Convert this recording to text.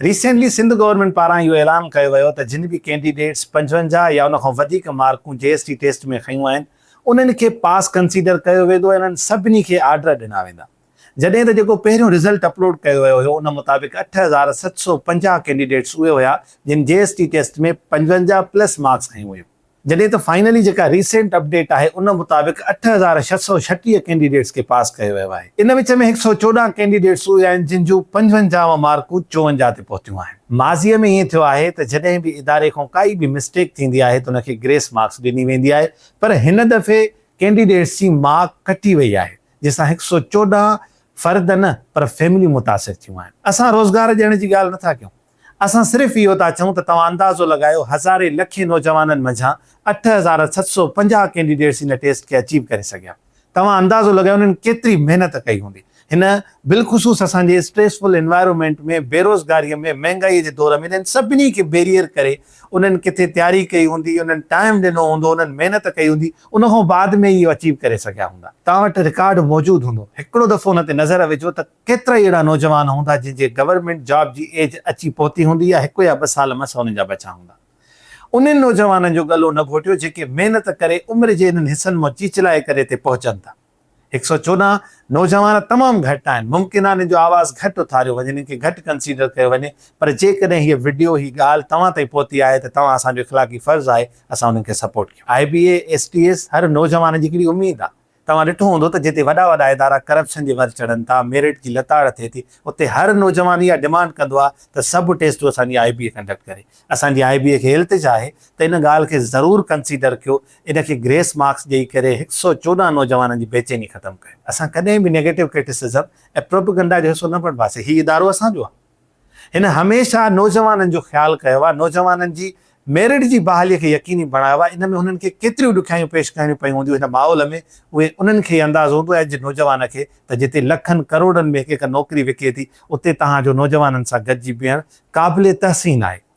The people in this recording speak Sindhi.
ريسينٽلي سنڌ گورنمينٽ پاران اهو اعلان ڪيو ويو ته جن به ڪينڊيڊيٽس پنجونجاهه يا ان کان وڌيڪ مارڪون جي ايس ٽي ٽيسٽ ۾ کنيون آهن انهن کي پاس ڪنسيڊر ڪيو ويندو ۽ انهن سڀني کي آرڊر ڏنا ويندا جڏهن ته جيڪو پهريون رزلٽ اپلوڊ ڪيو ويو هيو ان مطابق اٺ هزار ست سؤ پنجاهه ڪينڊيڊيٽس اهي هيا جن جي ايس ٽي ٽيسٽ ۾ پنجونجاهه پلس مارڪس کنيون هيون. جڏهن ته فائنلي جيڪا ريسينٽ اپڊيٽ آهي ان مطابق اٺ هزار ڇهه سؤ ڇٽيهه ڪينڊيڊيٽس کي پاس ڪيو ويو آهي ان وچ ۾ هڪ سؤ چوڏهن ڪينڊيڊيٽس اهي آهن جن جون پنجونجاهه مارڪون چوونجاهه تي پهتيون آهن ماضي ۾ ائين ٿيو آهي ته جڏهن به اداري کان ڪائي به مسٽيڪ ٿيندي آهي ته ان کي گريس مارڪس ڏني ويندي آهي پر هن دفعي ڪينڊيڊيٽس جي مارڪ ڪٽي وئي آهي جنهن سان هڪ سؤ چوڏهن فرد نه پر فيمليون متاثر ٿيون آهن اسان روزگار ڏيڻ جي ڳالهه نٿا ڪيون اسان صرف اهو ٿا چئون ته توهان اندازو لڳايو هزارين لکين نوجوانن منجهان اٺ هزار ست سؤ پنجاهه ڪينڊيڊيٽس هن ٽيسٽ کي اچيو ڪري سگهيا. توهان اندازو لڳايو انهن ڪيتري محنت ڪئي هوندي. هن بالخصوص اسان جي اسٽريسفل انوائرمينٽ ۾ بيروزگاري ۾ مهنگائي جي دور ۾ انهن سڀني کي بيريئر ڪري انهن ڪٿي تياري ڪئي هوندي انهن ٽائيم ڏنو هوندو انهن محنت ڪئي هوندي ان کان بعد ۾ اهو اچيو ڪري سگهيا هوندا. توهان وٽ رڪارڊ موجود هوندو هڪڙو دفعو ان تي نظر وجهو ته ڪيترائي اهڙا نوجوان هوندا جن جي گورنمينٽ جاب جي ايج اچي پهتي هوندي يا هڪ يا ٻه سال مس انهن جا بچا هوندا. انهن نوجوانن جو ڳلو نه گهوٽيو جيڪي محنت ڪري عمر جي انهن حصن مان چيچلائي ڪري اتي پهچن ٿا. هڪ سئو چوڏهن نوجوان تمام گهٽ آهن ممڪن آهي انهن جو آواز گهٽ اٿاريو وڃي انهن کي گهٽ ڪنسيڊر ڪيو وڃي پر جيڪڏهن هيء وڊيو هي ڳالهه توهان تائين پهتي آهي ته توهان اسان جو اخلاقي فرض آهي اسان انهن کي سپورٽ ڪيون. I B A S T S هر نوجوان جي هڪڙي اميد آهي. توهان ڏٺو هوندو ته جتي وڏا وڏا ادارا ڪرپشن جي ور چڙهن ٿا، ميرٽ جي لتاڙ ٿئي ٿي، اتي هر نوجوان اها ڊمانڊ ڪندو آهي ته سڀ ٽيسٽون اسان جي آء بي اي ڪنڊڪٽ ڪري. اسان جي آء بي اي کي هي التجا آهي ته ان ڳالهه کي ضرور ڪنسيڊر ڪيو، ان کي گريس مارڪس ڏئي ڪري هڪ سئو چوڏهن نوجوانن جي بيچيني ختم ڪيو. اسان ڪڏهن به نيگيٽو ڪرٽيسزم ۽ پروپيگنڊا جو حصو نه بڻباسين، هي ادارو اسان جو آهي. هن هميشه نوجوانن جو خيال ڪيو آهي، نوجوانن جي ميرٽ جي بحالي کي يقيني بڻايو آهي، ان ۾ هنن کي ڪيتريون ڏکيائيون پيش ڪرڻيون پيون هونديون، هن ماحول ۾ اهي انهن کي ئي اندازو هوندو آهي جي نوجوان کي ته جتي لکن ڪروڙن ۾ هڪ هڪ نوڪري وڪي ٿي، اتي توهان جو نوجوانن سان گڏجي بيهڻ قابل تحسين آهي.